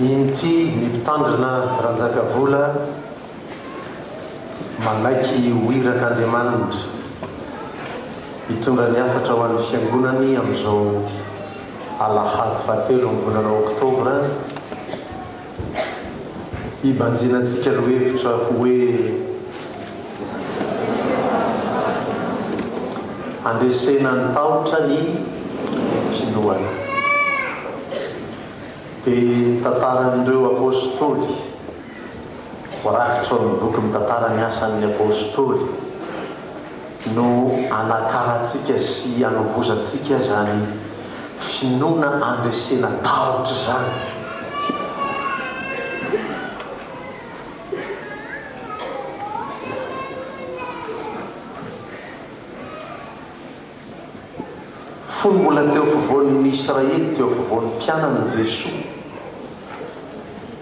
Inty ny mpitandrina Ranjakavola manaiky ho iraka Andriamanindra hitondra ny hafatra ho an'ny fiangonany amin'izao alahady fahatelo ny volana oktobra. hibanjina antsika lohevitra ho hoe handresena ny tahotra ny finoana. Dia ny tantaran'ireo Apôstôly, voarakitra ao amin'ny boky mitantara ny asan'ny Apôstôly, no hanakarantsika sy hanovozantsika izany finoana andresena tahotra izany. Fony mbola teo afovoan' ny Israely, teo afovoan'ny mpianany Jesoa,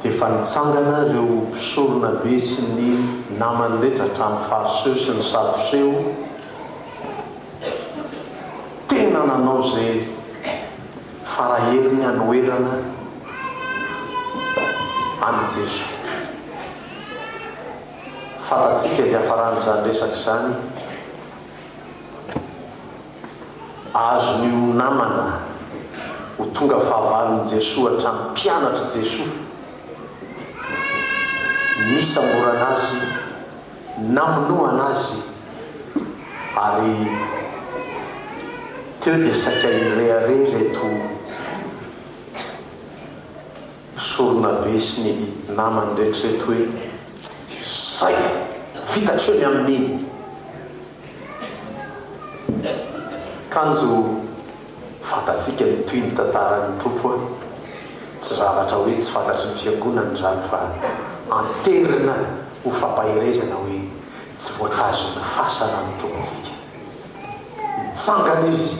dia efa nitsangana ireo mpisoronabe sy ny namany rehetra, hatramin'ny Fariseo sy ny Sadoseo, tena nanao izay fara heriny hanoherana an'i Jesoa. Fantatsika hiafaran'izany resaka izany. Azon'io namana ho tonga fahavalon'i Jesoa hatramin'ny mpianatr'i Jesoa nisamborana Azy, namonoana Azy, ary teo dia saika hirehareha ireto. Sorona be sy ny namany retrireto hoe zay! Vita hatreo ny amin'iny! Kanjo fantatsika ny tohin' ny tantaran' ny Tompo a! Tsy zavatra hoe tsy fantatry ny Fiangonana izany fa anterina ho fampaherezana hoe tsy voatazon'ny fasana ny Tompontsika. Nitsangana izy,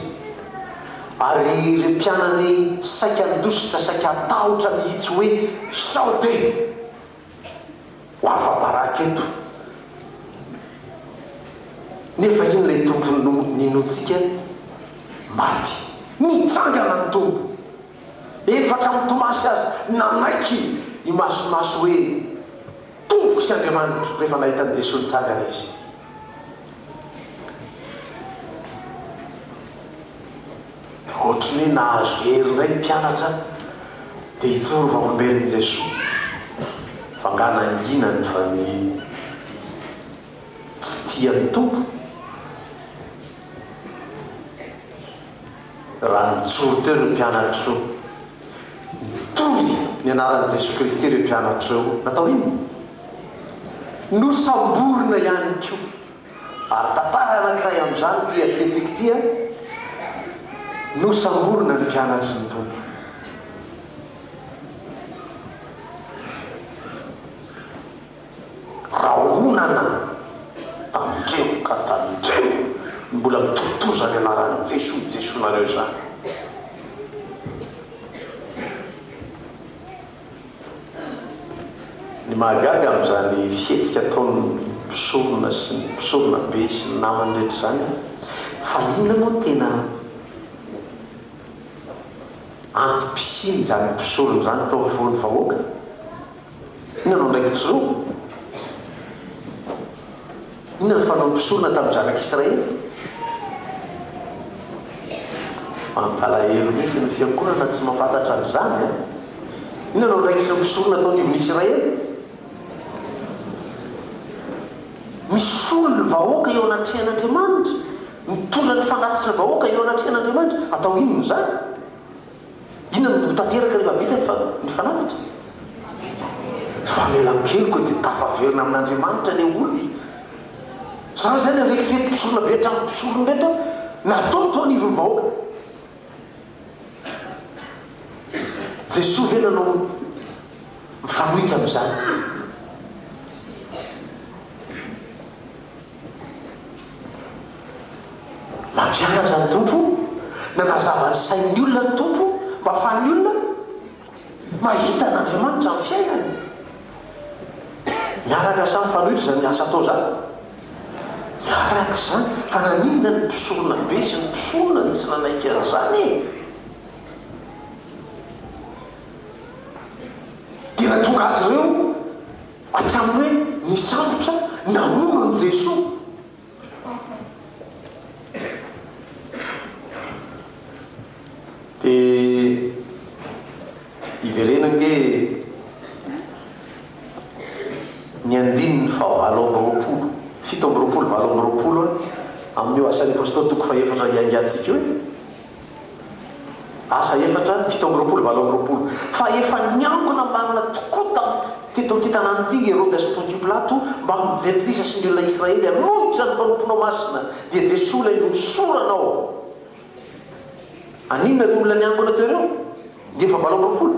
ary ireo mpianany saika handositra, saika hatahotra mihitsy hoe, Sao dia ho afa-baraka eto? Nefa inona ilay Tompo ninoantsika? Maty. Nitsangana ny Tompo. Eny fa hatramin'i Tomasy aza nanaiky imasomaso hoe, Tompoko sy Andriamanitro, rehefa nahita an'i Jesoa nitsangana izy. Ohatry ny hoe nahazo hery indray ny mpianatra te hijoro vavolombelon'i Jesoa. Fa angaha nanginany fa ny tsy tia ny Tompo raha nijoro teo ireo mpianatro? Toy ny anaran'i Jesoa Kristy ireo mpianatra ireo natao inona? Nosamborina ihany koa. Ary tantara anankiray amin'izany ity atrehintsika ity an! Nosamborina ny mpianatry ny Tompo. Rahonana tandremo ka tandremo ny mbola mitortoza ny anaran'i Jesoa Jesoanareo izany. Ny mahagaga amin'izany fihetsika ataon'ny mpisorona sy ny mpisorona be sy ny namany rehetra izany fa inona moa tena antom-pisian'izany mpisorona izany tao afovoan'ny vahoaka? Inona no andraikitro? Inona no fanaon'ny mpisorona tamin'ny zanak'Israely? Mampalahelo mihitsy ny fiangonana tsy mahafantatra an'izany an! Inona no andraikitry ny mpisorona tao anivon'Israely? Misolo ny vahoaka eo anatrehan'Andriamanitra, mitondra ny fanatitra vahoaka eo anatrehan'Andriamanitra, atao inona izany? Inona no ho tanteraka rehefa vita ny fa ny fanatitra? Famelan-keloka dia tafaverina amin'Andriamanitra le olona e! Zany izany handreky fety mpisorona be hatramin'ny mpisorony reto an! Natao teo anivon'ny vahoaka! Jesoa ve nanao mifanohitra amin'izany? Nampianatra ny Tompo, nanazava ny sain'ny olona ny Tompo mba hahafahan'ny olona mahita an'Andriamanitra amin'ny fiainany. Miaraka sa mifanohitra izany asa atao izany? Miaraka izany, fa naninona ny mpisorona be sy ny mpisorona no tsy nanaiky an'izany e? Dia nahatonga azy ireo. Hatramin'ny hoe nisambotra namono an'i Jesoa. Te hiverena ange ny andininy fahavalo amby roapolo, fito amby roapolo, valo amby roapolo amin'io Asan'ny Apostoly toko fahefatra hiaingantsika io e. Asa efatra, fito amby roapolo, valo amby roapolo, Fa efa niangona marina tokoa tamin'ny teto an-kitanan'i Ntingy Herode sy Pontio Pilato mbamin'ny jentilisa sy ny olona Israely hanohitra ny mpanomponao masina, dia Jesoa ilay nohosoranao. Aninona ireo olona niangona teo ireo? Dia efa valo amby roapolo.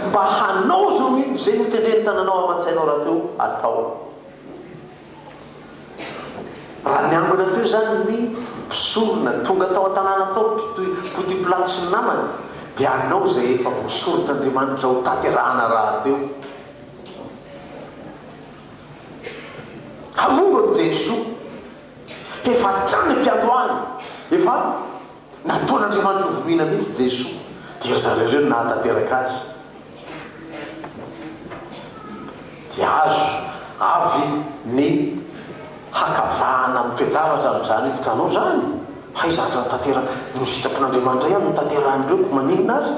Mba hanao izao no inona izay notendren'ny tananao aman-tsainao rahateo hatao. Raha niangona teo izany ny mpisorona, tonga tao an-tanàna tao ny mpoty pilato sy ny namany, dia hanao izay efa voasoritr'Andriamanitra ho tanterahana rahateo. Hamono an'i Jesoa. Efa hatrany am-piandohana. Efa. Nataon'Andriamanitra ho vonoina mihitsy Jesoa, dia ry zareo ireo no nahatanteraka azy. Dia azo avy ny hakavahana amin'ny toe-javatra amin'izany hitanao izany? Hay zavatra notanteraka, ny sitrapon'Andriamanitra ihany no tanterahin'ireo koa maninona ary?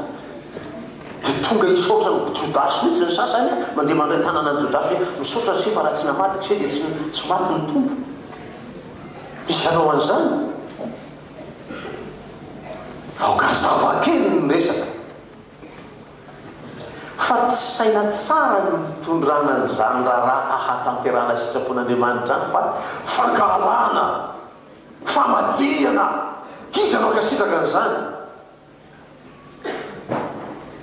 Dia tonga hisaotra an'i Jodasy mihitsy ny sasany an! Mandeha mandray tanana an'i Jodasy hoe, misaotra an'ise fa raha tsy namaty k'ise dia tsy tsy maty ny Tompo. Misy hanao an'izany? Aoka hazava kely ny resaka fa tsy saina tsara ny nitondrana an'izany raharaha ahatanterahana sitrapon'Andriamanitra any fa fankahalana, famadihana, iza no hankasitraka an'izany?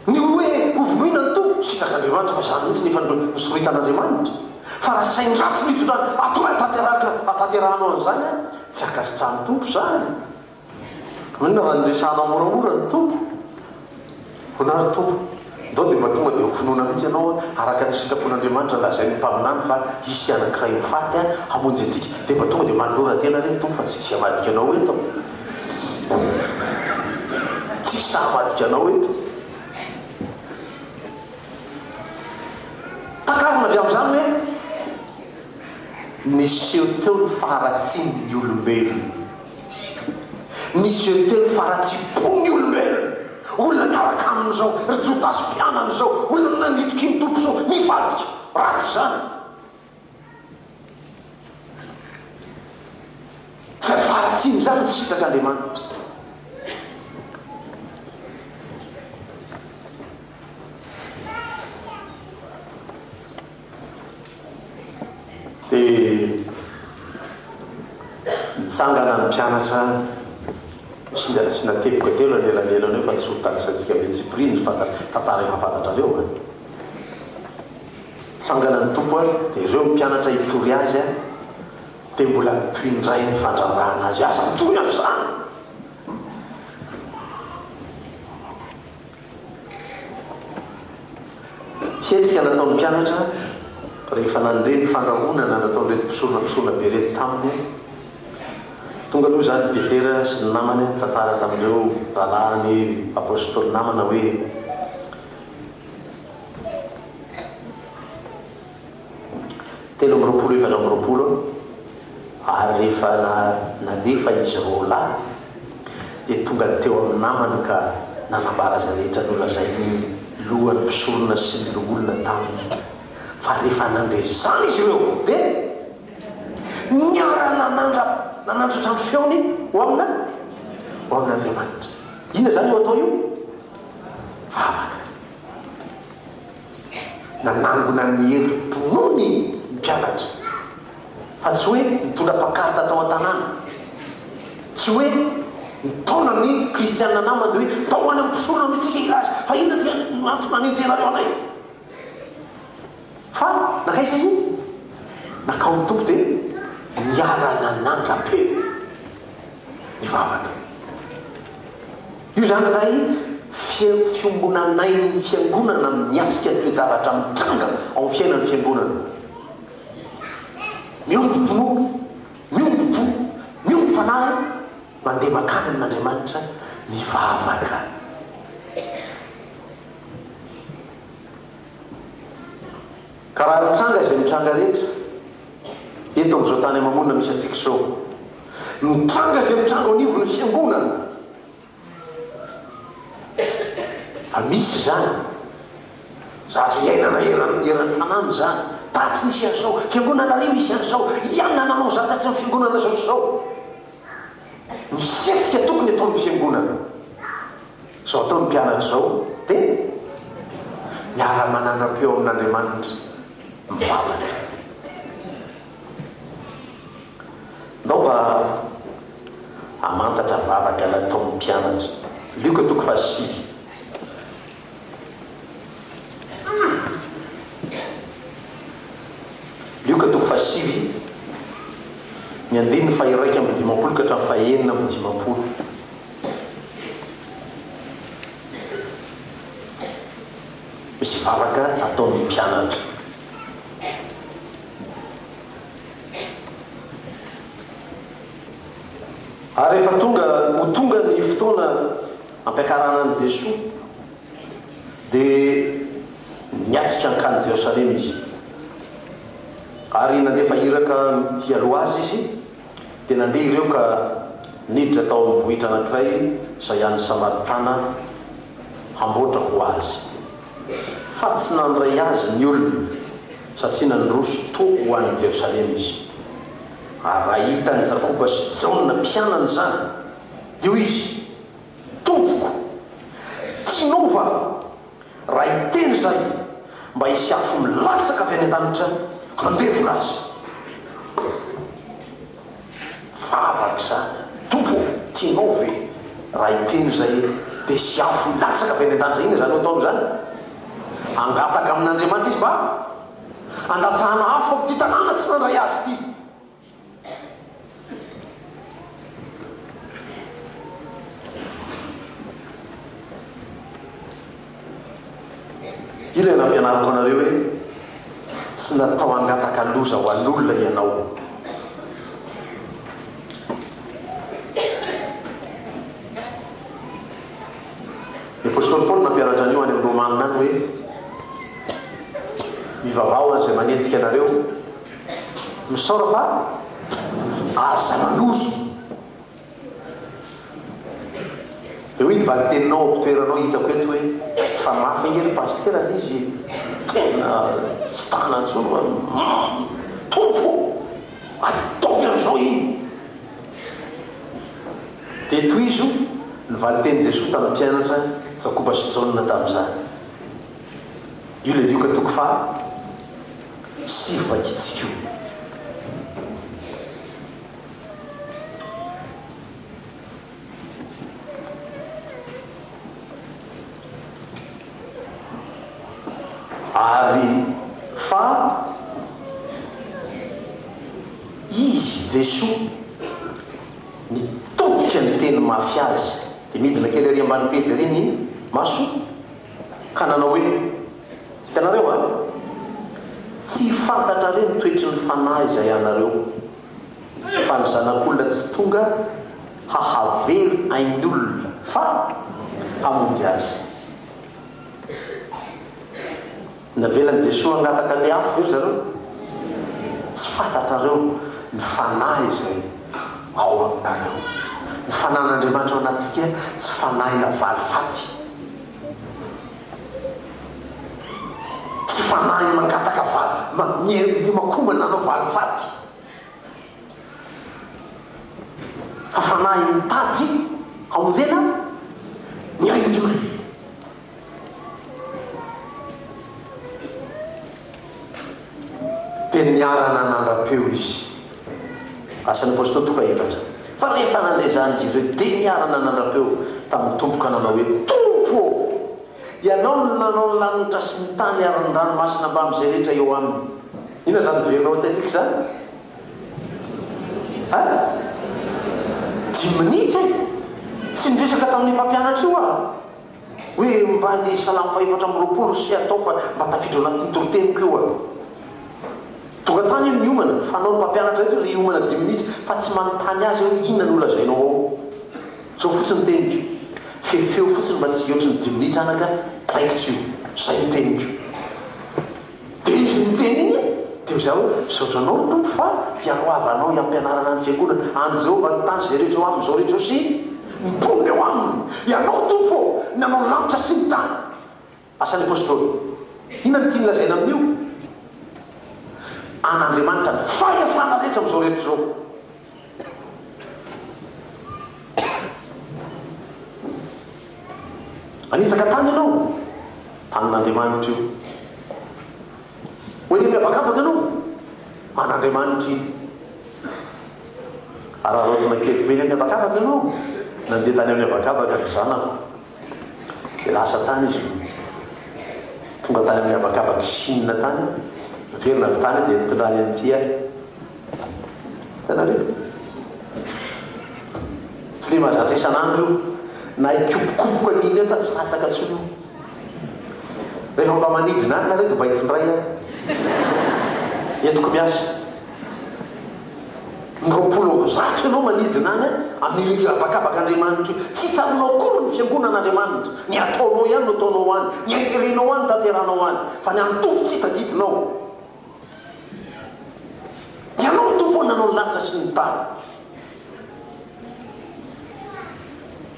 Ny hoe hovonoina ny Tompo, sitrak'Andriamanitra fa izany mihitsy ny efa nosoritan'Andriamanitra. Fa raha sahy ratsy ny hitondrana atoana tanteraka hatanterahanao an'izany an, tsy hankasitrahan'ny Tompo izany. Maninona raha niresahanao moramora ny Tompo? Hoana ry Tompo? Ndao dia mba tonga dia ho finoana mihitsy ianao araka ny sitrapon'Andriamanitra lazain'ny mpaminany fa hisy anankiray ho faty hamonjy antsika. Dia mba tonga dia manolora tena re ry Tompo fa tsy misy hamadika anao eto. Tsisy hamadika anao eto. Takarina avy amin'izany hoe niseho teo ny faharatsian'ny olombelona. Ny izay miteny fa ratsipon ny olombelona, olona miaraka aminy zao, ry jodasy mpianany zao, olona nandidiky ny tompo zao, mivadika, ratsy zany. Fa ny faharatsiany zany no sitrak Andriamanitra. Dia nitsangana ny mpianatra singa nasiana teboka telo anelanelana eo fa tsy hotanisantsika ve tsipiriany ny fantatra, tantara efa fantatrareo an! Nitsangana ny Tompo an, dia ireo ny mpianatra hitory Azy an, dia mbola nitohy indray ny fandraharahana Azy, aza mitory amin'izany! Hetsika nataon'ny mpianatra rehefa nandre ny fandrahonana nataon'ireto mpisorona mpisorona be ireto taminy. Tonga aloha izany i Petera sy ny namany nitantara tamin'ireo rahalahiny apostoly namana hoe. telo amby roapolo efatra amby roapolo ary rehefa nalefa izy roa lahy dia tonga teo amin'ny namany ka nanambara izay rehetra nolazain'ny lohan'ny mpisorona sy ny loholona taminy fa rehefa nandre izany izy ireo dia niara nanandra nanandratra ny feony ho amina ho amin'Andriamanitra inona izany io atao io vavaka nanangona ny herim-ponony ny mpianatra fa tsy hoe nitondra pankarta tao an-tanàna, tsy hoe nitaona ny kristiana namany hoe mba ho any amin'ny mpisorona aloha isika hilaza fa inona dia no antony nanenjehanareo anay? Fa nankaiza izy? Nakao ny Tompo dia niara-nanandra-peo nivavaka. Io izany ilay fiombonanain'ny Fiangonana miatrika ny toe-javatra mitranga ao amin'ny fiainan'ny Fiangonana. Miombom-pinoana, miombom-po, miombom-panahy, mandeha mankany amin'Andriamanitra mivavaka. Ka raha mitranga izay mitranga rehetra, eto amin'izao tany ama-monina misy antsika izao. Mitranga izay mitranga ao anivon'ny fiangonana, fa misy izany, zatra iainana eran, eran-tanàna izany, tatsy nisy an'izao, fiangonana ary misy an'izao, ianona nanao izany tatsy amin'ny fiangonana izao sy izao. Misy hetsika tokony ataon'ny fiangonana. Izao ataon'ny mpianatra izao dia miara-manandrampeo amin'Andriamanitra mivavaka. Ndao mba hamantatra vavaka nataon'ny mpianatra. Lioka toko fahasivy. Lioka toko fahasivy, ny andininy faha-iraika amby dimampolo ka hatramin'ny faha-enina amby dimampolo. Misy vavaka ataon' ny mpianatra. Ary rehefa tonga ho tonga ny fotoana hampiakarana an'i Jesoa, dia niatrika hankany Jerosalema Izy. Ary nandefa iraka hialoha Azy Izy. Dia nandeha ireo ka niditra tao amin'ny vohitra anankiray izay an'ny Samaritana hamboatra ho azy. Fa tsy nandray azy ny olona, satria nandroso toa ho any Jerosalema izy. Ary raha hitan'i Jakoba sy Jaona mpianany izany, dia hoy izy, Tompoko, tianao va? Raha hiteny izay, mba hisy afo milatsaka avy any an-danitra handevona azy. Vava araka izany. Tompo ô, tianao ve? Raha hiteny izay, dia hisy afo hilatsaka avy any an-danitra. Inona izany no ataony izany? Hangataka amin'Andriamanitra izy mba handatsahana afo amin'ity tanàna tsy nandray azy ity. Ilay nampianariko anareo hoe tsy natao hangataka loza ho an'olona ianao. Ny apostoly Paoly nampianatra an'io any amin'ny Romanina any hoe mivavaha ho an'izay manenjika anareo Misaora fa aza malozo. Dia hoy ny valiteninao ao am-pitoeranao hitako eto hoe, fa mafy ange ry Pasitera anie izy e! Tena tsy tana intsony hoe umm Tompo o! Ataovy an'izao iny! Dia tohizo ny valitenin'i Jesoa tamin'ny mpianatra Jakoba sy Jaona tamin'izany. Io ilay lioka toko faha. sy fahitsiko. Ary fa Izy, Jesoa, nitodika niteny mafy azy. Dia midina kely ery ambany pejy ery ny masoko. ka nanao hoe, Hitanareo va? Tsy fantatrareo ny toetry ny fanahy izay anareo, fa ny Zanak'olona tsy tonga hahavery ain'ny olona, fa hamonjy azy. Navelan'i Jesoa hangataka ny afo ve ry zareo? Tsy fantatrareo ny fanahy izay ao aminareo. Ny fanahin'Andriamanitra ao anatintsika tsy fanahina valifaty. Tsy fanahy mangataka vali, ma, mier, miomakomana hanao valifaty. Fa fanahy mitady hamonjena ny ainy. Dia niarana nandra-peo izy. Asan'ny Apostoly toko efatra. Fa rehefa nandre izany izy ireo, dia niarana nandra-peo tamin'ny Tompo ka nanao hoe, Tompo ô! Ianao no nanao ny lanitra sy ny tany ary ny ranomasina mbamin'izay rehetra eo aminy. Inona izany miverina ao an-tsaintsika izany? A! Dimy minitra e! Tsy niresaka tamin'io mpampianatra io aho. Hoe mba le salamo fahefatra amby roapolo sy atao fa mba tafiditra ao anatin'ny toriteniko io an! Tonga tany anie miomana, fanao ny mpampianatra eto ry hiomana dimy minitra fa tsy manontany azy aho hoe inona no lazainao ao? Zao fotsiny ny teniko, fefeo fotsiny mba tsy hihoatry ny dimy minitra anaka, draikitra io. Zay ny teniko. Dia izy niteny iny dia izaho hoe, Misaotra anao ry Tompo fa hialohavanao hiampianarana ny fiangonana any Jehovah ny tany izay rehetra eo aminy izao ry Josy ny mponina eo aminy. Ianao Tompo ô ny nanao ny lanitra sy ny tany. Asa ny Apostoly. Inona no tiany lazaina amin'io? An'Andriamanitra ny fahefana rehetra amin'izao rehetra izao. Hanitsaka tany ianao, tanin'Andriamanitra io. Ho eny amin'ny habakabaka ianao, an'Andriamanitra iny. Araraotina kely, ho eny amin'ny habakabaka ianao, nandeha tany amin'ny habakabaka ny zanako. Dia lasa tany izy no tonga tany amin'ny habakabak'i Chine tany, niverina avy tany dia nitondra ahy amin'ity ahy. Hitanareo? Tsy dia mahazatra isan'andro io, na hikopokopoko an'iny aho fa tsy latsaka intsony io. Rehefa mba manidina any nareo dia mba hitondray ahy. Entiko miasa. Ny roapolo amby zato ianao manidina any amin'ny hira habakabaka Andriamanitra io. Tsy tsaroanao akory ny fiangonan'Andriamanitra. Ny ataonao ihany no ataonao any, ny interet-nao ihany no tanteranao any, fa ny an'ny Tompo tsy tadidinao. Ianao no Tompo ho nanao ny lanitra sy ny tany.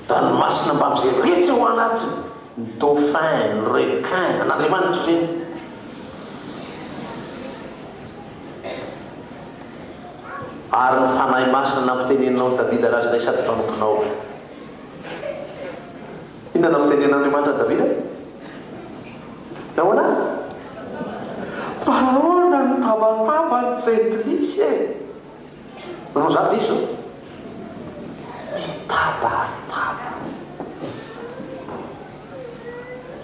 Ranomasina mbamin' izay rehetra ao anatiny, ny dauphin, ny requin, an' Andriamanitra ireny. Ary ny Fanahy Masina nampiteneninao an'i Davida raha izay sady mpanomponao. Inona nampitenenin' Andriamanitra an'i Davida? Nahoana? Mba ahoana no nitabataba ny jentilisa e? Manao izany ve izao? Mitaba ary taba.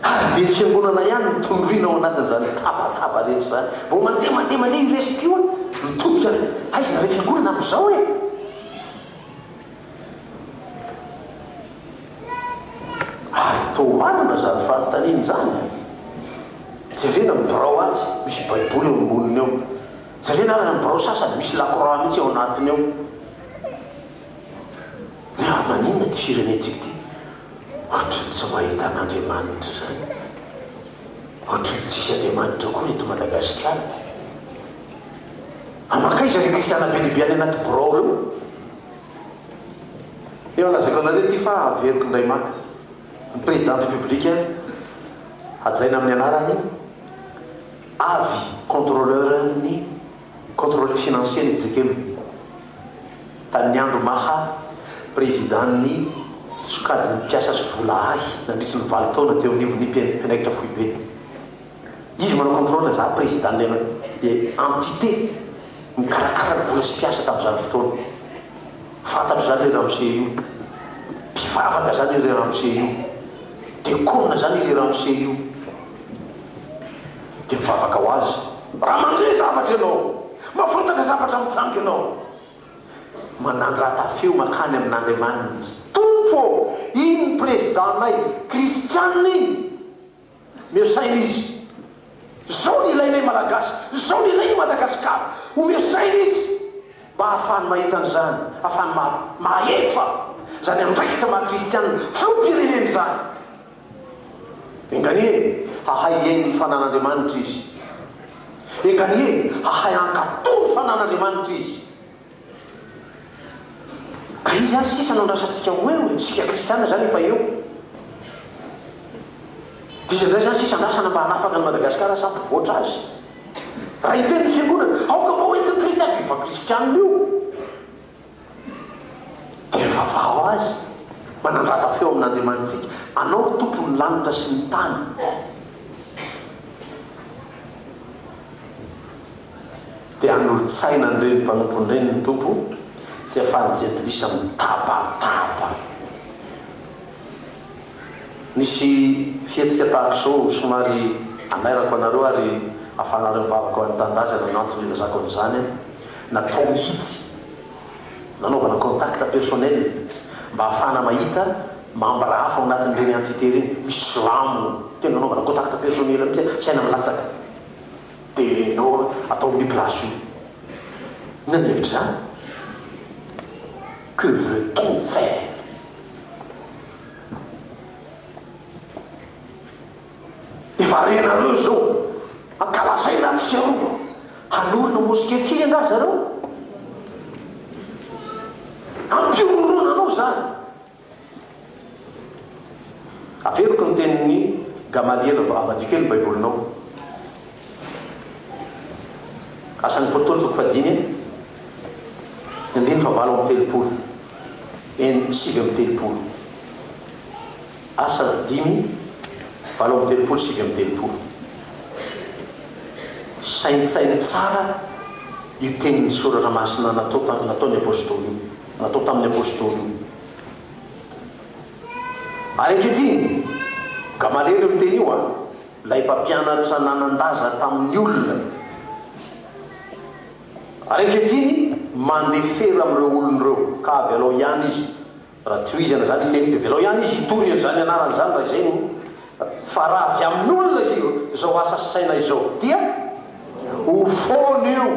Ary dia fiangonana ihany no tondroina ao anatin'izany tabataba rehetra izany. Vao mandeha, mandeha, mandeha i resy-pio an, mitodika ilay, aiza ilay fiangonana amin'izao e? Ary toa marina izany fanontaniana izany an! Jerena ny birao atsy, misy Baiboly eo amboniny eo. Jerena ary ny birao sasany misy lakroix mihitsy ao anatiny ao. Dia raha maninona ity firenentsika ity? Ohatry ny tsy mahita an'Andriamanitra izany. Ohatry ny tsisy Andriamanitra akory eto Madagasikara. Fa mankaiza ireo kristiana be dia be any anaty birao ireo? Efa lazaiko anareo ity fa averiko indray maka. Ny Président République hajaina amin'ny anarany. Avy contrôleur ny contrôle financier ny exekem tamin'ny andro maha président ny sokajin'ny mpiasa sy vola ahy nandritry ny valo taona teo anivon'ny mpianaitra foibe. Izy manao contrôle za président ilay entité mikarakara ny vola sy mpiasa tamin'izany fotoana. Fantatro zany ry ramose io. Mpivavaka zany ry ramose io. Dekona zany ry ramose io. Dia mivavaka ho azy, Raha mandre zavatra ianao, mahafantatra zavatra mitranga ianao. Manandrata feo mankany amin'Andriamanitra, Tompo ô, iny prezidànay kristiana iny. Omeo saina izy. Izao no ilainay Malagasy, izao no ilain'i Madagasikara. Omeo saina izy mba hahafahany mahita an'izany, hahafahany mahefa izany andraikitra maha-kristiana filoham-pirenena izany. Enganie hahay hihaino ny fanan'Andriamanitra izy. Enganie hahay hankatò ny fanan'Andriamanitra izy. Ka izy àry sisa no andrasantsika ho eo e, isika kristiana izany efa eo. Dia iza indray izany sisa andrasana mba hanafaka an'i Madagasikara sy hampivoatra azy? Raha hiteny ny fiangonana, aoka mba hoentin'ny kristiana, dia efa kristiana io. Dia vavaho Azy, manandrata feo amin'Andriamanitsika, Anao ry Tompo ny lanitra sy ny tany. Dia hanolo-tsaina an'ireny mpanompony ireny ny Tompo, tsy hahafahan'ny jentilisa mitabataba. Nisy fihetsika tahaka izao, somary hanairako anareo ary afanareo ny vavaka ho an'ny tanindrazana ny antony ilazako an'izany, natao mihitsy nanaovana contact personnel mba hahafahana mahita membres hafa ao anatin'ireny entité ireny, misy silamo tena anaovana contact personnel mihitsy hoe tsy haina ny latsaka dia nao atao amin'io place io. Inona ny hevitra izany? Que veut-on faire? Efa renareo izao mankalaza aina atsy sy aroa. Hanorina mosquée firy angaha zareo? Ampihorohoroana anao izany. Averiko ny tenin'i Gamaliel, avadiky eo ny baibolinao. Asan'ny Apôstôly toko fahadimy andininy fahavalo amby telopolo, en. Sivy amby telopolo. Asa dimy, valo amby telopolo, sivy amby telopolo. Saintsaino tsara io tenin'ny Soratra Masina natao ta, nataon'ny Apôstôly io, natao tamin'ny Apôstôly io. Ary ankehitriny, Gamaliely io miteny io an! Ilay mpampianatra nanan-daza tamin'ny olona. Ary ankehitriny, mandefera amin'ireo olony ireo, ka avelao ihany izy, raha tohizana izany ny teniko, dia avelao ihany izy hitory an'izany anarany izany raha izay no, fa raha avy amin'olona izay, izao asa saina izao, dia ho foana io,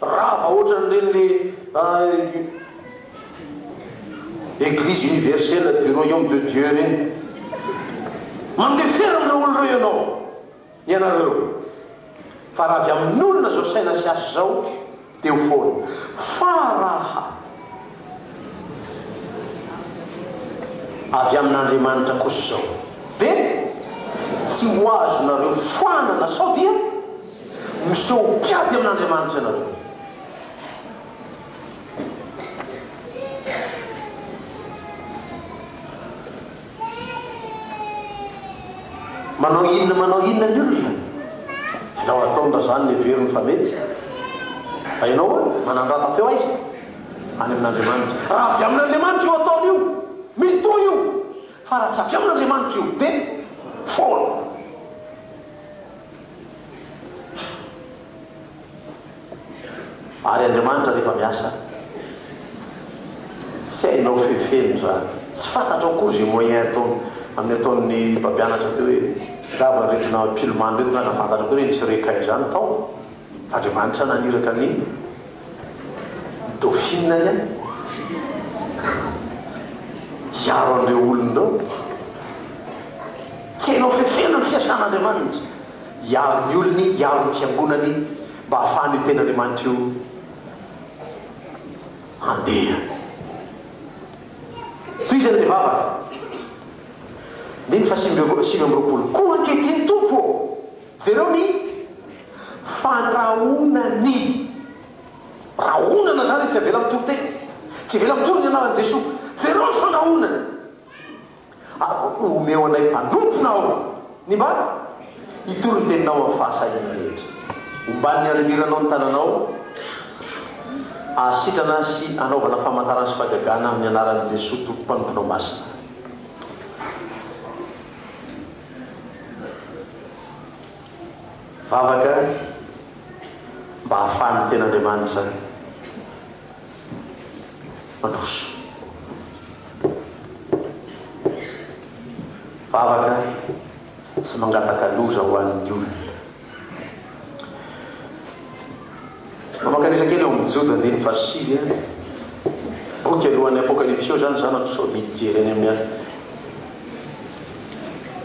rava ohatran'ireny le, ah, Eglise universelle du royaume de Dieu reny. Mandefera an'ireo olona ireo ianao, ianareo, fa raha avy amin'olona izao saina sy asa izao dia ho foana. Fa raha avy amin'Andriamanitra kosa izao dia tsy ho azonareo foanana sao dia miseho ho mpiady amin'Andriamanitra ianareo. manao inona manao inona ny olona izao ataony raha zany ny heveriny fa mety fa ianao a manandrata feo aiza any amin'andriamanitra raha avy amin'andriamanitra io ataony io mitohy io fa raha tsy avy amin'andriamanitra io dia foana Ary Andriamanitra rehefa miasa tsy hainao fefeny izany, tsy fantatrao akory izay moyen ataony, amin'ny ataon'ny mpampianatra teo hoe angamba ireto na pilman ireto nga nahafantatra koa hoe nisy requin izany tao fa Andriamanitra naniraka ny dauphine anie hiaro an'ireo olony ireo, tsy hainao fefena ny fiasan'Andriamanitra. hiaro ny olony, hiaro ny fiangonany mba hahafahan'io Tenin'Andriamanitra io handeha. Tohizana ilay vavaka. Andininy fahasivy sivy amby roapolo. Koa ankehitriny, Tompo ô, jereo ny fandrahonany. Rahonana izany izy, tsy avela mitory tena. Tsy avela mitory ny anaran'i Jesoa. Jereo ny fandrahonany. Ary omeo anay mpanompona ao ny mba hitory ny Teninao amin'ny fahasahiana rehetra. Ombà ny anjeranao ny tananao hahasitrana sy hanaovana famantarana sy fagagana amin'ny anaran'i Jesoa Tompo Mpanomponao Masina. Vavaka mba hahafahan'ny Tenin'Andriamanitra. Mandroso. Vavaka tsy mangataka loza ho an'ny olona. Mamakanisa kely ao amin'ny Joda andininy fahasivy, boky alohan'ny Apokalypsy eo izany, izany sao dia hijery any amin'ny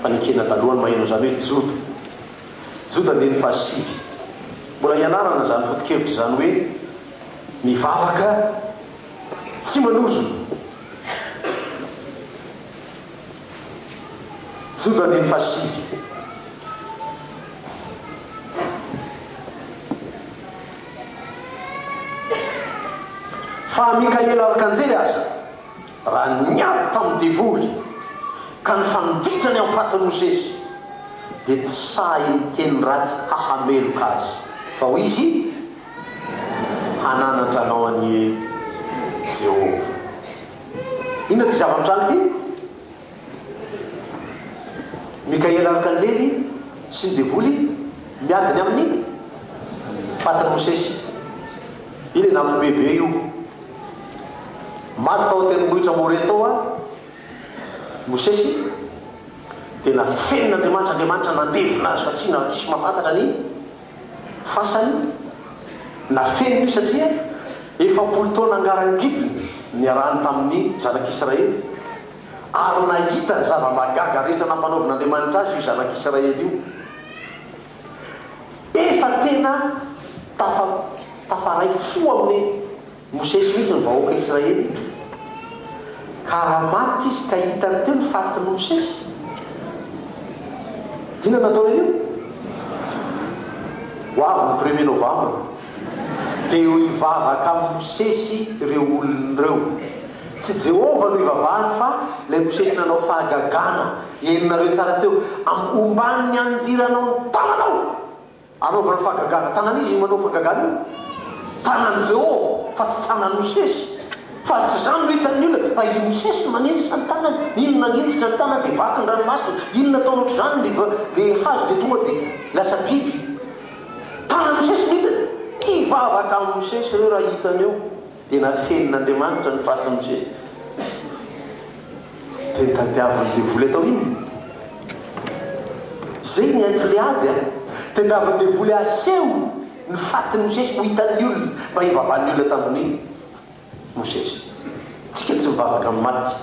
fanekena taloha no maheno an'izany hoe Joda. Joda andininy fahasivy. Mbola hianarana izany foto-kevitra izany hoe. Mivavaka tsy manozona. Jude andininy fahasivy. Fa Mikaela Arkanjely aza, raha niady tamin'ny devoly ka nifanditra ny amin'ny fatin'i Mosesy, dia tsy sahy niteny ratsy hahameloka azy, fa hoy izy, hananatra anao anie Jehovah. Inona ity zava-mitranga ity? Mikaela Arkanjely sy ny devoly miady ny amin'ny fatin'i Mosesy. Io ilay nampihomehy be io. Maty tao an-tendrombohitra More tao i Mosesy. Dia nafenin'Andriamanitra, Andriamanitra nandevina azy fa tsy tsisy mahafantatra ny Fasany na feno io satria efapolo taona ngarangidiny niarahany tamin'ny Zanak'Israely, ary nahita ny zava-mahagaga rehetra nampanaovin'Andriamanitra azy io Zanak'Israely io. Efa tena tafa, tafaray fo amin'ny. Mosesy mihitsy ny vahoaka Israely ka raha maty izy ka hitany teo ny fatin'i Mosesy, inona no ataony anio? Ho avy ny premier novambra dia ho hivavaka amin'i Mosesy ireo olona ireo. Tsy Jehovah no ivavahany fa ilay Mosesy nanao fahagagana henonareo tsara teo, amin'ny omban'ny anjiranao ny tananao. Anaovana fahagagana. Tanan'iza io manao fahagagana io? Tanan'i Jehovah, fa tsy tanan'i Mosesy. Fa tsy izany no hitan'ny olona, fa i Mosesy no manenjika ny tanany. Iny nanenjika ny tanany, dia vaky ny ranomasina. Iny nataony hoatr'izany ilay va, ilay hazo, dia tonga dia lasa biby. Tanan'i Mosesy no hitany. Hivavaka amin'i Mosesy ireo raha hitany eo. Dia nafenin'Andriamanitra ny fatin'i Jeso. Dia nitadiavin'ny devoly atao inona? Izay ny entre le ady a! Tadiavin'ny devoly aseho ny fatin'i Jeso ho hitan'ny olona, mba hivavahan'ny olona tamin'i Mosesy. Tsika tsy mivavaka amin'ny maty.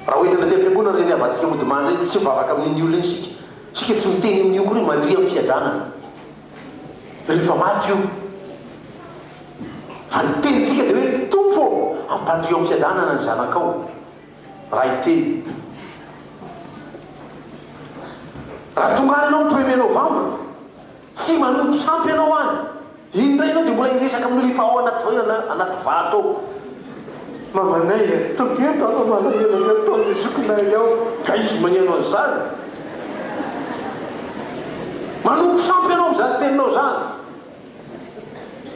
Raha hoentina aty am-piangonana ireny havantsika modimany ireny, tsy mivavaka amin'iny olona iny isika. Isika tsy miteny amin'io akory hoe mandria amin'ny fiadanana. rehefa maty io fa ny tenintsika dia hoe Tompo ô ampandrio amin'ny fiadanana ny zanakao raha hiteny raha tonga any ianao ny premier novembre tsy manompo sampy ianao any indray ianao dia mbola hiresaka amin'ny olona efa ao anaty anaty vato ao Mamanay a! Tonga eto aho fa malahelo amin'ny ataon'ny zokinay ao. Ka izy mañeno an'izany? Manompo sampy ianao amin'izany teninao izany.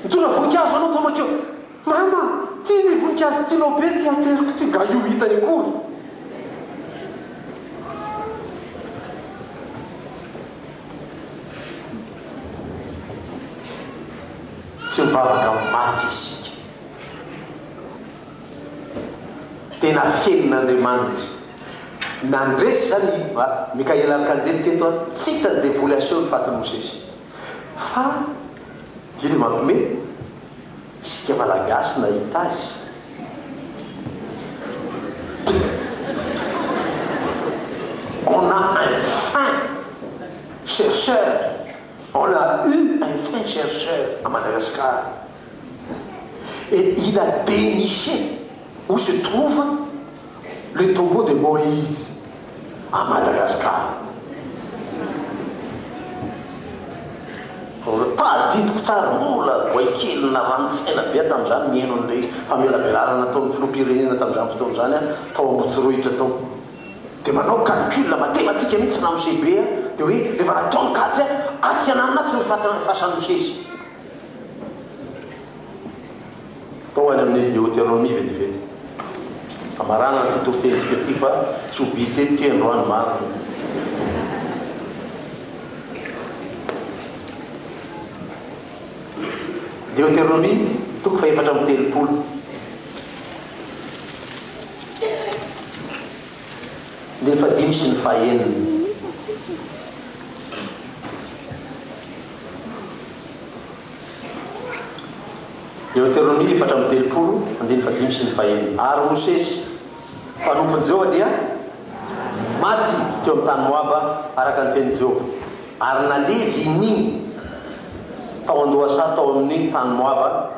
Mitondra voninkazo anao toa makeo. Mama, ity ny voninkazo tianao be ity ateriko ity, nga io hitany akory? Tsy mivavaka amin'ny maty isika. Tena fenon'Andriamanitra. Nandresy izany i Mikaela Arkanjely teto an, tsy hitany devoly haseho ny fatin'i Mosesy. Fa Didy mampime, isika Malagasy nahita azy. On a un fin chercheur, on a eu un fin chercheur à Madagascar. et il a deniché où se trouve le tombeau de Moïse à Madagascar raha adidiko tsara mbola boay kely narani-tsaina be aho tamin'izany nihaino an'ilay famelabelarana nataon'ny filoham-pirenena tamin'izany fotoana izany aho tao Ambotsoraohitra tao dia manao calcul matematika mihintsy ramose be aho dia hoe rehefa nataony kajy atsy ananona atsy ny fatin'ny fasan'ny mosesy Tao any amin'ny Deoteronomia vetivety. Hamarana an'ity toritenintsika ity fa tsy ho vita eto ity androany marina. Deoteronomia toko fahefatra amby telopolo. Ny fahadimy sy ny fahenina. Ary Mosesy, mpanompon'i Jehovah, dia maty teo amin'ny tany Moaba, araka ny tenin'i Jehovah, ary naleviny tao an-dohasaha tao amin'ny tany Moaba,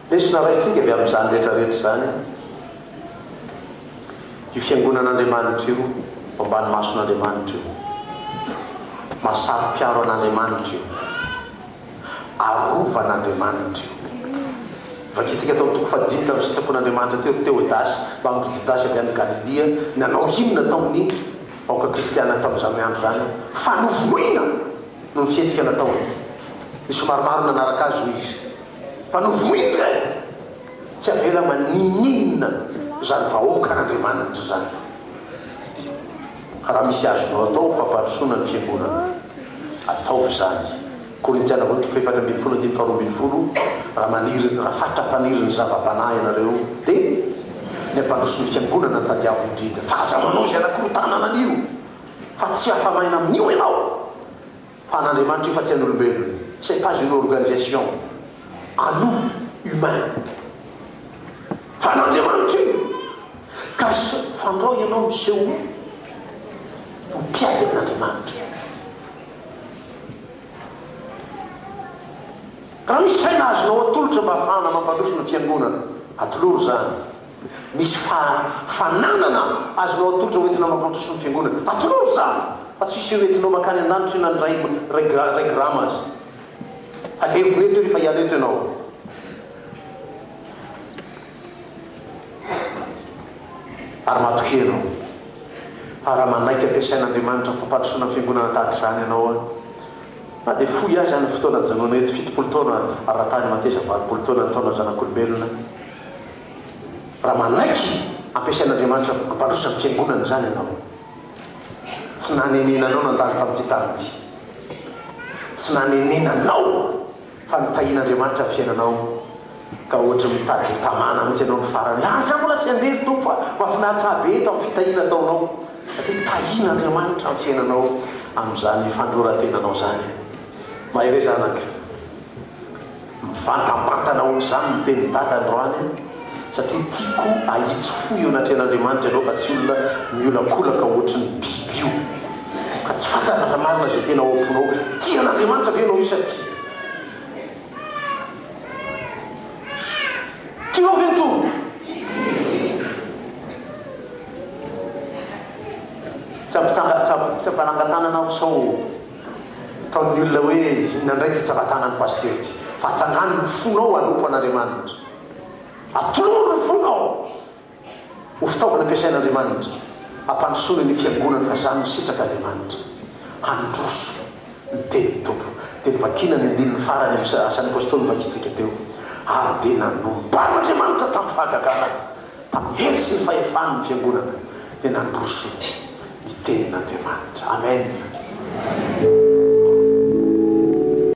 Lesona raisintsika avy amin'izany rehetrarehetra izany io fiangonan'Andriamanitra io ao ambany mason'Andriamanitra io. Mahasaropiaro an'Andriamanitra io. Arovan'Andriamanitra io. Vakintsika tao amin'ny toko fahadimy tamin'ny sitrapon'Andriamanitra teo ry Teodasy mba amin'ireo Jodasy avy any Galilia nanao inona tao amin'ny vahoaka kristiana tamin'izany andro izany fa novonoina! no fihetsika nataony. Ny somary maro nanaraka azy hoy izy, Fa novohiny re! Tsy avela maninon'inona izany vahoakan'Andriamanitra izany. Didio. Raha misy azonao atao ho fampandrosoana ny fiangonana, ataovy izany. Korintiana Voalohany toko fahefatra ambin'ny folo andininy faharoa ambin'ny folo, Raha maniry, raha fatra mpaniry ny zava-panahy ianareo, dia ny hampandroso ny fiangonana no tadiavo indrindra, fa aza manao izay anakorontana anio. Fa tsy afa-maina amin'io ianao, fa an'Andriamanitra io fa tsy an'olombelona. C'est pas une organisation à nous humains. Fa an'Andriamanitra io. Ka fandrao ianao miseho ho mpiady amin'Andriamanitra. Raha misy saina azonao atolotra mba hahafahana mampandroso ny Fiangonana, atolory izany. Misy fa fananana azonao atolotra ho entina mampandroso ny fiangonana. Atolory izany fa tsy hiseo entinao mankany an-danitra io na ny ray ray gra ray grama aza. Halevina eto io rehefa hiala eto ianao. Ary matokia ianao. Fa raha manaiky ampiasain'Andriamanitra amin'ny fampandrosoana ny fiangonana tahaka izany ianao an, na dia fohy aza ny fotoana ajanonao eto, fitopolo taona ara-tany mateza valopolo taona ny taona zanak'olombelona, Raha manaiky ampiasain'Andriamanitra hampandroso ny fiangonany izany ianao, tsy nanenena anao nandalo tamin'ity tany ity. Tsy nanenena anao fa nitahian'Andriamanitra ny fiainanao ka ohatry mitady hotamana mihitsy ianao ny farany. Ary izaho mbola tsy handeha ry Tompo fa mahafinaritra ahy be eto amin'ny fitahiana ataonao satria tahian'Andriamanitra ny fiainanao amin'izany fandroratenanao izany. Mahereza anaka. Mivantampantana aoka izany ny tenin'i Dada androany an! satria tiako ahitsy fo eo anatrehan'Andriamanitra ianao fa tsy olona miolakolaka ohatry ny biby io ka tsy fantatra raha marina izay tena ao am-ponao. Tia an'Andriamanitra ve ianao io sa tsia? Tianao ve ny Tompo? Tsy ampitsanga, tsy ampanangan-tanana aho sao. Ataon'ny olona hoe inona indray ity tsaratanan'i Pasitera ity? Fa atsangano ny fonao hanompo an'Andriamanitra. Atolory ny fonao ho fitaovana ampiasain'Andriamanitra hampandrosoana ny Fiangonany fa izany no sitrak'Andriamanitra. Handroso ny tenin'ny Tompo. Dia novakina ny andininy farany amin'ny Asan'ny Apôstôly novakintsika teo, Ary dia nanomban'Andriamanitra tamin'ny fahagagana. tamin'ny hery sy ny fahefany ny fiangonana dia nandroso ny tenin'Andriamanitra. Amen.